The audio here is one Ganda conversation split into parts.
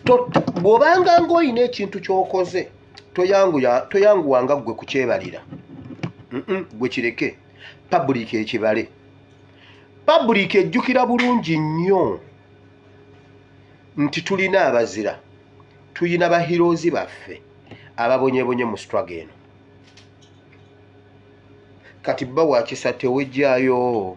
To- to- bw'obanga ng'olina ekintu ky'okoze toyanguya- toyanguwanga ggwe kukyebalira Mm-mm, ggwe kireke pabuliika ekibale pabuliika ejjukira bulungi nnyo nti tulina abazira tulina bahiroozi baffe ababonyebonye mu struggle eno kati bba wakisa tewejjayo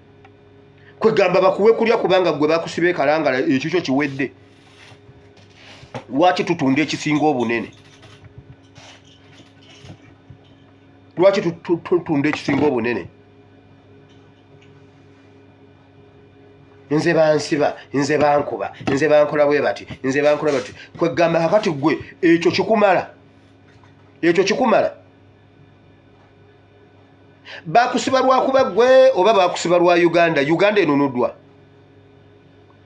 kwegamba bakuwe kulya kubanga gwe bakusiba ekalangala ekikyo kiwedde lwaki tutunda ekisinga obunene lwaki tutunda ekisinga obunene nze bansiba nze bankuba nze bankola bwe bati nze bankola bati kwegamba kakati gwe ekyo kikumala ekyo kikumala bakusiba lwakuba gwe oba bakusiba lwa uganda uganda enunudwa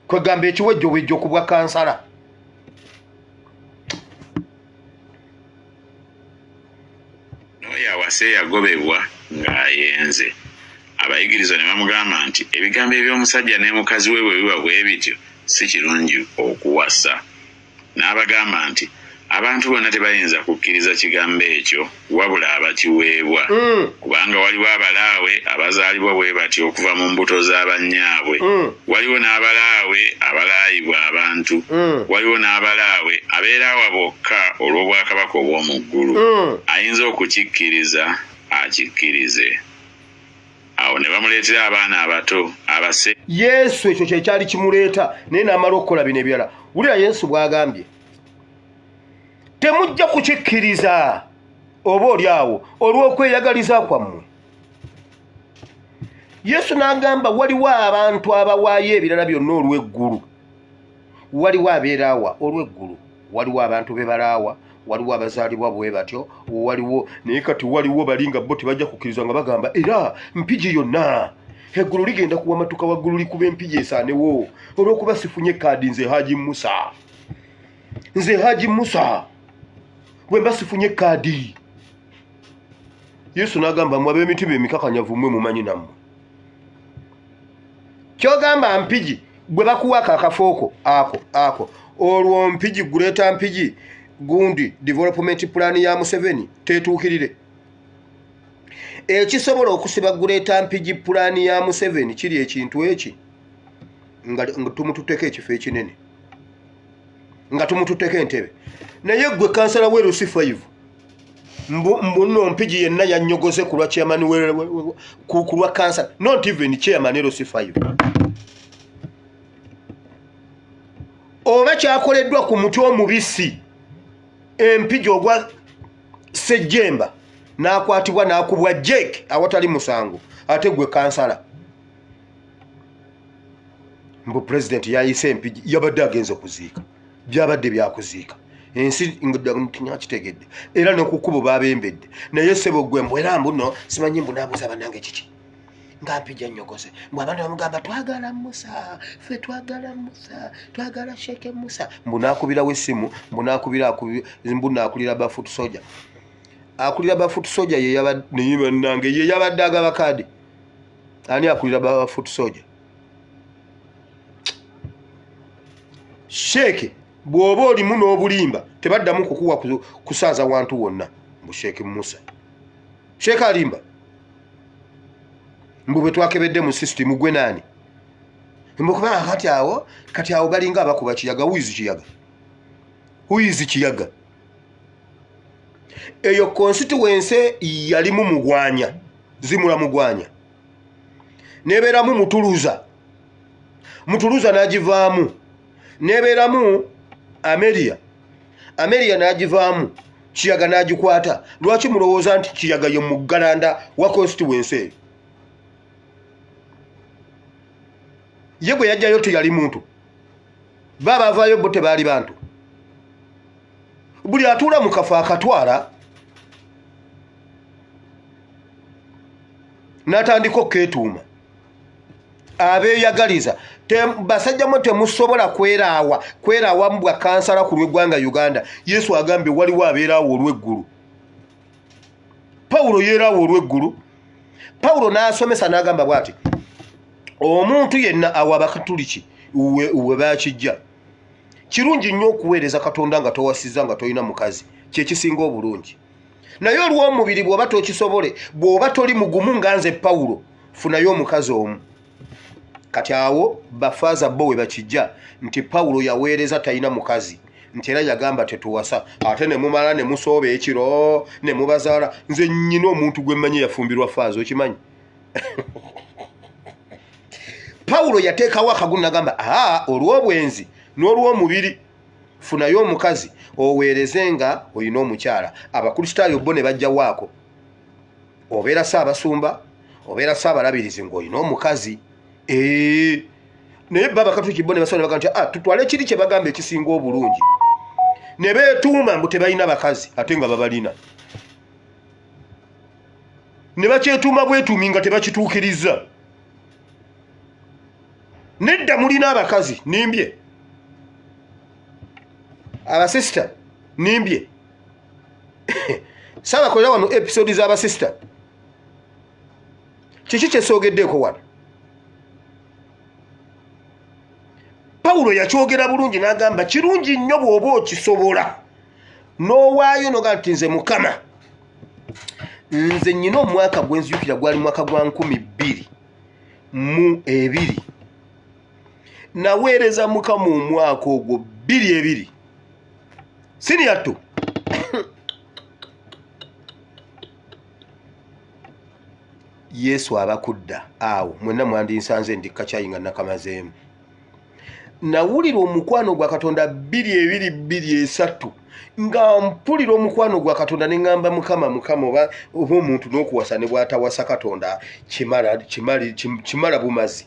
kwegamba ekiwejjowejjo ku bwa kansala noyo awase yagobebwa ng'ayenze abayigiriza ne bamugamba nti ebigambo eby'omusajja ne mukazi we bwe biba bwe bityo si kirungi okuwasa N'abagamba nti, Abantu bonna tebayinza kukkiriza Kigambo ekyo wabula abakiweebwa. Kubanga waliwo abalaawe abazaalibwa bwe batyo okuva mu mbuto za bannyaabwe. Waliwo n'abalaawe abalaayibwa abantu. Waliwo n'abalaawe abeera awa bokka olw'Obwakabaka obw'omu Ggulu. Ayinza okukikkiriza, akikkirize. awo ne bamuleetera abaana abato abase yesu ekyo kyekyali kimuleeta naye n'amala okukola bino ebirala wulira yesu bw'agambye temujja kukikkiriza oba oli awo olw'okweyagaliza kwammwe yesu n'agamba waliwo abantu abawaayo ebirala byonna olw'eggulu waliwo abeeraawa olw'eggulu waliwo abantu be balaawa waliwo abazaalibwa bwe batyo waliwo naye kati waliwo bali nga bo tebajja kukkiriza nga bagamba era mpigi yonna eggulu ligenda kuwa matuka waggulu likuba empigi esaanewo olw'okuba sifunye kaadi nze haji musa nze haji musa bwe mba sifunye kaadi yesu n'agamba mwe ab'emitima emikakanyavu mwe mumanyi nammwe kyogamba mpigi gwe bakuwa ako akafooko ako ako olwo mpigi guleeta mpigi gundi development plan ya museveni tetuukirire ekisobola okusiba guleeta mpigi pulaani ya museveni kiri ekintu eki nga tumututteko ekifo ekinene nga tumututteko entebe naye gwe kansala werusi 5 mbu mbu no mpiji yenna yanyogose kulwa chairman we ku kulwa cancer not even chairman ero sifayo oba kyakoleddwa ku mutwe omubisi empiji ogwa sejjemba n'akwatibwa n'akubwa jake awatali musango ate gwe kansala mbu pulezidenti yayise empiji yabadde agenza okuziika byabadde byakuziika ensi kitegedde era nokukubo babembedde naye sebo gwe mbwera mbuno simanyi mbunabuza banange kiki ngampija nyokose mbu abantu bamugamba twagala musa fe twagala musa twagala sheke musa mbunakubirawo esimu mbunakubira mbunakulira bafut soja akulira bafut soja yeyaba naye banange yeyabadde agaba kadi ani akulira bafut soja sheeke bw'oba olimu n'obulimba tebaddamu kukuwa kusaaza wantu wonna mbu sheeke musa sheeke alimba mbu bwe twakebedde mu sisitimu gwe naani mbukubaa kati awo kati awo balinga abakuba kiyaga wizi kiyaga wizi kiyaga eyo konsituwense yalimu mugwanya zimula mugwanya nebeeramu mutuluza mutuluza n'agivaamu nebeeramu ameria ameria n'agivaamu kiyaga n'agikwata lwaki mulowooza nti kiyaga ye muggalanda wa constituensi eyo ye gwe yajjayo teyali muntu ba bavaayo bo tebaali bantu buli atuula mu kafo akatwala natandika okuketuuma abeyagaliza basajja mwe temusobola kweraawa kweraawa mubwa kansala ku lweggwanga uganda yesu agambye waliwo abeeraawo olweggulu pawulo yeeraawo olweggulu pawulo n'asomesa n'agamba bw ati omuntu yenna awa bakatuliki we bakijja kirungi nnyo okuweereza katonda nga towasiza nga tolina mukazi kyekisinga obulungi naye olw'omubiri bw'oba tokisobole bw'oba toli mugumu nga nze pawulo funayo omukazi omu kati awo bafaaza bo we bakijja nti pawulo yaweereza talina mukazi nti era yagamba tetuwasa ate ne mumala ne musooba ekiro ne mubazaala nze nnyina omuntu gwe mmanyi yafumbirwa faaza okimanyi pawulo yateekawo akagunagamba aa olw'obwenzi n'olw'omubiri funayo omukazi oweereze nga olina omukyala abakristaayo bo ne bajjawaako obeera saabasumba obeera saabalabirizi ng'olina omukazi ee naye baba katuki bo ne basaba nebaga nti ah, tutwale kiri kye bagamba ekisinga obulungi ne beetuuma mbu tebalina bakazi ate nga babalina ne bakyetuuma bwetuumi nga tebakituukirizza nedda mulina abakazi nimbye abasisita nimbye sabakolera wano episode z'abasisita kiki kyesoogeddeko wano pawulo yakyogera bulungi n'agamba kirungi nnyo bw'oba okisobola n'owaayo noga nti nze mukama nze nyina omwaka gwenzijukira gwali mwaka gwa nkumi bbiri mu ebiri naweereza mukama omwaka ogwo bbiri ebiri siniyatto yesu abakudda awo mwenna mwandinsanze ndikakyayi nga nakamazeemu nawulira omukwano gwa katonda bbiri ebiri bbiri esatu nga mpulira omukwano gwa katonda ne ŋŋamba mukama mukama oba oba omuntu n'okuwasa ne bwatawasa katonda kimala bumazi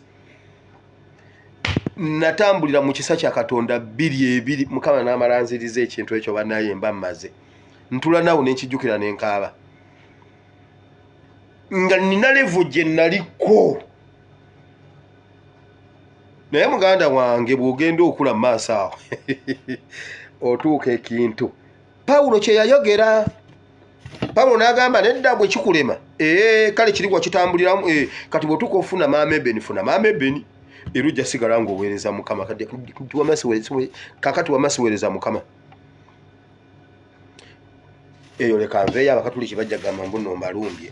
natambulira mu kisa kya katonda bbiri ebiri mukama n'amalanziriza ekintu ekyo banaye mba mmaze ntula nawe nenkijjukira nenkaaba nga nina levu gye naliko naye muganda wange bw'ogenda okula maaso awo otuuka ekintu pawulo kye yayogera pawulo n'agamba nedda bwe kikulema ee eh, kale kiri wakitambuliramu eh, kati bw'otuuka ofuna maama ebeni funa maama ebeni era ojja sigala ng'oweereza mukama kakati wama siweereza mukama eyo leka nveeyo abakatuliki bajja gamba mbuno mbalumbye